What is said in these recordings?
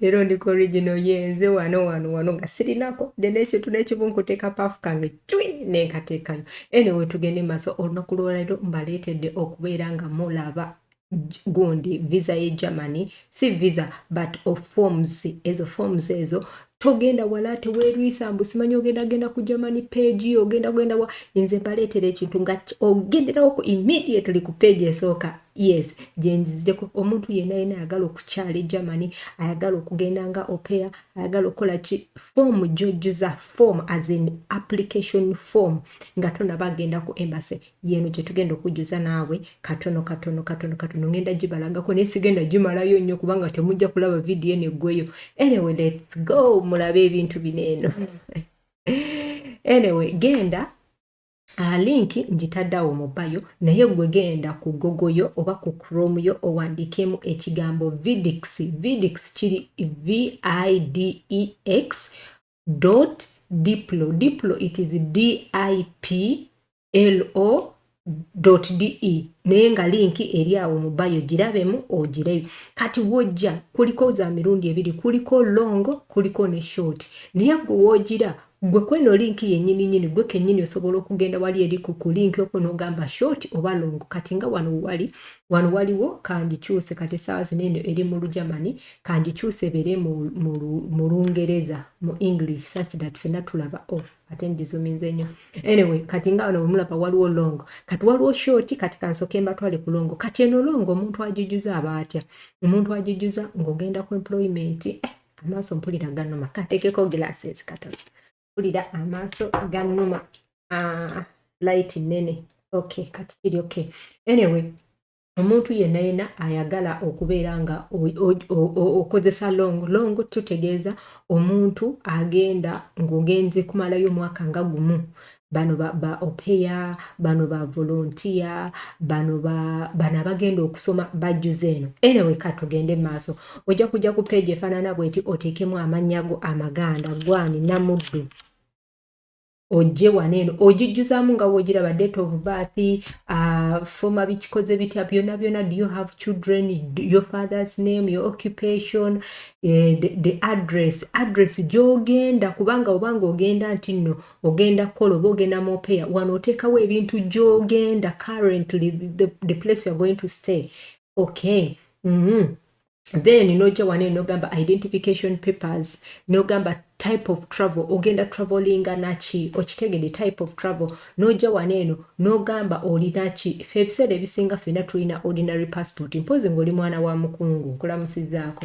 leero ndi ku original ye nze wano wano wano nga sirinako de nekintu nekimu nkuteeka paafu kange cwi nenkateekayo anyway tugende maaso olunaku lwolero mbaleetedde okubeera nga mulaba gundi visa ye germany si visa but of forms ezo forms ezo togenda wala ate werwisa mbu simanyi ogenda genda ku germany page yo ogenda genda wa nze mbaleetera ekintu nga ogenderawo ku immediately ku page esooka yes gyenzizideko omuntu yena yena ayagala okukyala egermany ayagala okugenda nga opea ayagala okukola ki foomu gyojjuza foomu as an application form nga tonaba agenda ku embassy yeno gyetugenda okujjuza naawe katono katono katono katono ngenda gibalagako naye sigenda gimalayo nnyo kubanga temujja kulaba vidiyo eno eggweyo anyway lets go mulabe ebintu bino eno anyway genda Uh, link njitaddawo mu bayo naye gwe genda ku gogo yo oba ku chrome yo owandiikemu ekigambo vidix vidix kiri videx dot diplo diplo it is diplo dot de naye nga linki eri awo mu bayo girabemu ogireyo kati wojja kuliko za mirundi ebiri kuliko longo kuliko ne short naye gwe wogira Gwe kweno link yenyini nyini gwe kenyini osobola okugenda wali eri ku ku link okwo nogamba short oba long kati nga wano wali wano waliwo kangikyuse kati esaawa zino eno eri mu lugermany kangikyuse ebeere mu lungereza mu english such that fena tulaba o oh, ate ngizuminze nnyo anyway kati nga wano wemulaba waliwo long kati waliwo short kati kansoke mbatwale ku longo kati eno longo omuntu agijuza aba atya omuntu agijuza ng'ogenda ku employment eh, amaaso mpulira ganuma katekeko glasses katono mpulira amaaso ganuma ah, light nene okay kati kiri okay anyway omuntu yenna yenna ayagala okubeera nga okozesa long long tutegeeza omuntu agenda ng'ogenze kumalayo omwaka nga gumu bano ba, ba opeya bano ba volontiya bano ba, bano abagenda okusoma bajjuza eno anyway katugende maaso ojja kujja ku peegi efaanana bweti oteekemu amannya go amaganda gwani namuddu ojje wano eno ogijjuzamu nga wogiraba date of birth uh, foma bikikoze bitya byona byona do you have children your father's name your occupation uh, the, the address address gyogenda kubanga obanga ogenda nti nno ogenda kukola oba ogenda mopeya wano oteekawo ebintu gyogenda currently the, the place youare going to stay okay mm -hmm. then noja wane nogamba identification papers nogamba type of travel ogenda travelinga naki okitegede type of travel noja wane eno nogamba olinaki fe ebiseera ebisinga fena tulina ordinary passport mpozi ngaoli mwana wa mukungu nkulamusizaako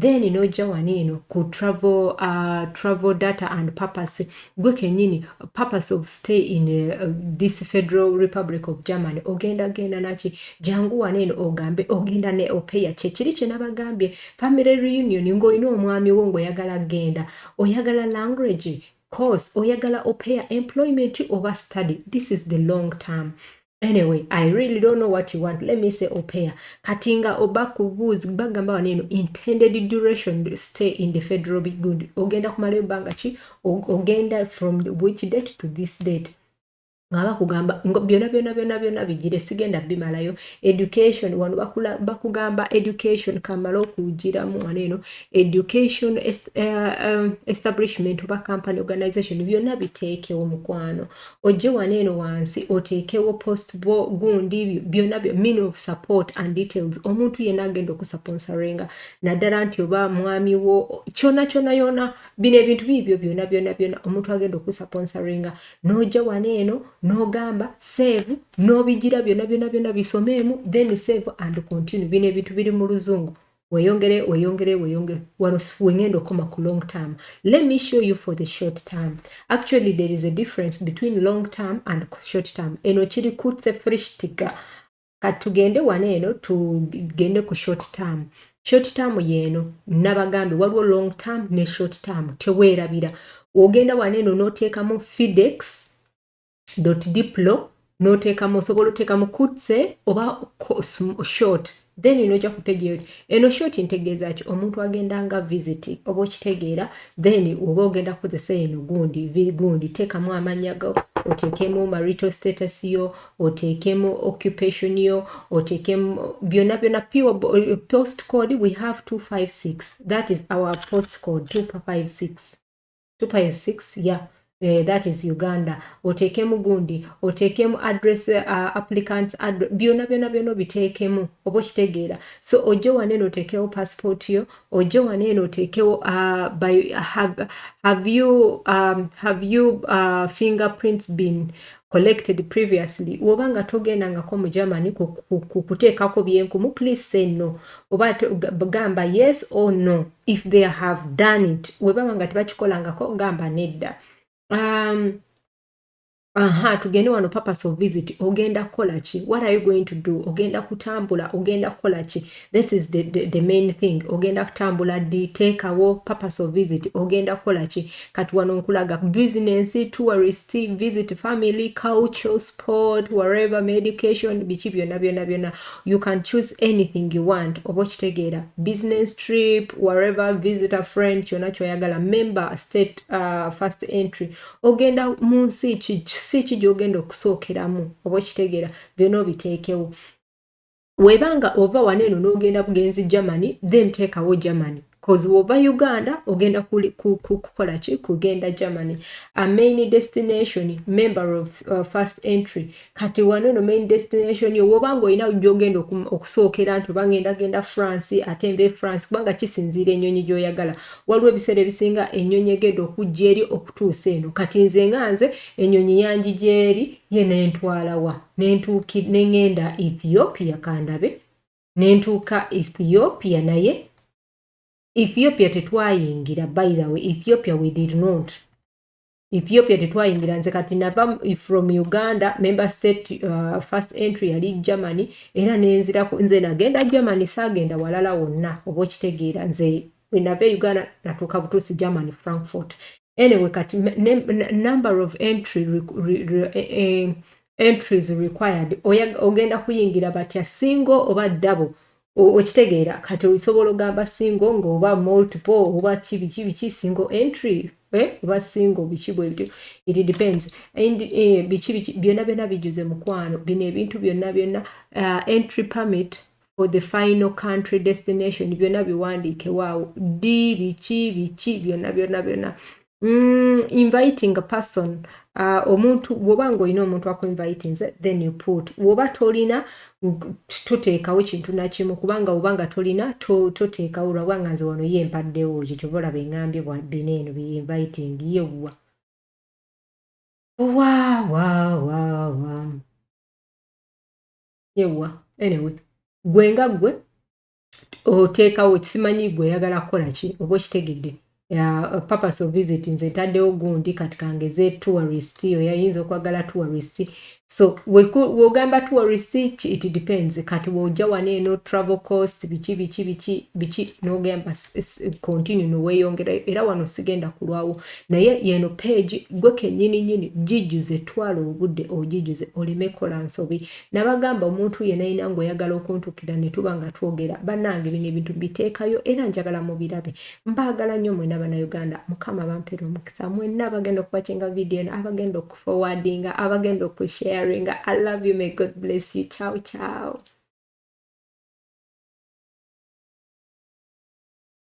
then nojja wani eno ku travel, uh, travel data and purpose gwe kenyini purpose of stay in uh, this federal republic of germany ogenda genda naki jangu wani eno ogambe ogenda ne opeya kyekiri kyenabagambye family reunion ngaolina omwami wo ngaoyagala genda oyagala language course oyagala opeya employment oba study this is the long term anyway i really don't know what you want let me say opea kati nga oba kubuuzi bagamba wano eno intended duration stay in the federal bigund ogenda kumala ebbanga ki ogenda from which date to this date nga bakugamba byona byona byona byona bigire sigenda bimalayo education wano bakugamba education kamala okugiramu wano eno education est, uh, um, establishment oba company organization byona biteekewo mukwano ojje wano eno wansi oteekewo post bo gundi byonna byo mean of support and details omuntu yenna agenda okusaponsarenga naddala nti oba mwami wo kyona kyona yona bino ebintu biibyo byona byona byona omuntu agenda okusaponsarenga n'ojja wano eno n'ogamba save n'obigira byona byona byona bisomeemu then save and continue bino ebintu biri mu luzungu weyongere weyongere weyongere wano wengenda okoma ku long term let me show you for the short term actually there is a difference between long term and short term eno kiri kutse frishtika katugende wano eno tugende ku short term short term yeeno nabagambe waliwo long term ne short term teweerabira ogenda wano eno n'oteekamu fidex dot diplo notekamu osobola otekamu kutse oba short then noja ku page yoti eno short ntegeeza ki omuntu agenda nga visit oba okitegeera then oba ogenda kukozesa eno gundi gundi tekamu amanya go otekemu marital status yo otekemu occupation yo otekemu byona byona pure post code we have 256 that is our post code 256 2.6 ya eh, that is uganda oteekemu gundi oteekemu address uh, applicant address byona byona byona obiteekemu oba okitegeera so ojje wane eno oteekewo passport yo ojje wane eno oteekewo uh, by, have, have you, um, have you uh, fingerprints been collected previously woba nga togendangako mu germany kuteekako byenkumu please say no oba gamba yes or no if they have done it webaba nga tebakikolangako gamba nedda um, aha tugende wano purpose of visit ogenda kukola ki what are you going to do ogenda kutambula ogenda kukola ki this is the, the, the main thing ogenda kutambula ddi teekawo purpose of visit ogenda kukola ki kati wano nkulaga business tourist visit family culture sport whatever medication biki byonna byonna byonna you can choose anything you want oba okitegeera business trip whatever visit a friend kyonna kyoyagala member state uh, first entry ogenda mu nsi ki ki gyogenda okusookeramu oba okitegeera byonna obiteekewo webanga ova wano eno n'ogenda bugenzi germany then teekawo germany bcause wova uganda ogenda kukola ki kugenda germany a main destination member of uh, first entry kati wano eno main destination yo woba nga olina gyogenda okusookera nti obangenda genda france ate mbe france kubanga kisinziira ennyonyi gyoyagala waliwo ebiseera ebisinga ennyonyi egenda okujja eri okutuusa eno kati nze nga nze ennyonyi yangi gyeri ye nentwalawa nengenda ethiopia kandabe nentuuka ethiopia naye ethiopia tetwayingira by the way ethiopia we did not ethiopia tetwayingira nze kati nava from uganda member state uh, first entry yali germany era nenzirako nze nagenda germany sagenda walala wonna oba okitegeera nze bwenava e uganda natuuka butuusi german frankfort anyway kati number of entry re, re, re, eh, eh, entries required ogenda kuyingira batya single oba double okitegeera kati osobola ogamba single ngaoba multiple oba kibiki biki single entry eh, oba single biki bwebityo it depends and eh, biki biki byonna byonna bijuze mukwano bino ebintu byonna byonna uh, entry permit for the final country destination byonna biwandiike waawo ddi biki biki byonna byonna byonna mm, inviting a person uh, omuntu bwoba ngaolina omuntu akuinvitinze then you put woba tolina toteekawo kintu nakimu kubanga woba nga tolina toteekawo lwakuba nga nze wano ye mpaddewo ekyo kyoba olaba engambye bina eno biinviting yewwa wawawawa wow, wow, wow. ewa anyway gwe nga gwe oteekawo simanyi gwe oyagala kukola ki oba okitegedde uh, purpose of visit nze ntaddewo gundi kati kangeze tourist oyayinza okwagala tourist so wogamba tourist it depends kati woja wano eno travel cost biki biki biki biki nogamba continue noweyongera era wano sigenda kulwawo naye yeno page gwe kenyini nyini jijuze twala obude ojijuze oleme kola nsobi nabagamba omuntu yena yena ngo yagala okuntukira netuba nga twogera banange bino ebintu bitekayo era njagala mubirabe mbagala nyo mwena bana Uganda mukama bampere omukisa mwena abagenda okubakinga video na abagenda okuforwardinga abagenda okusharinga I love you may God bless you ciao ciao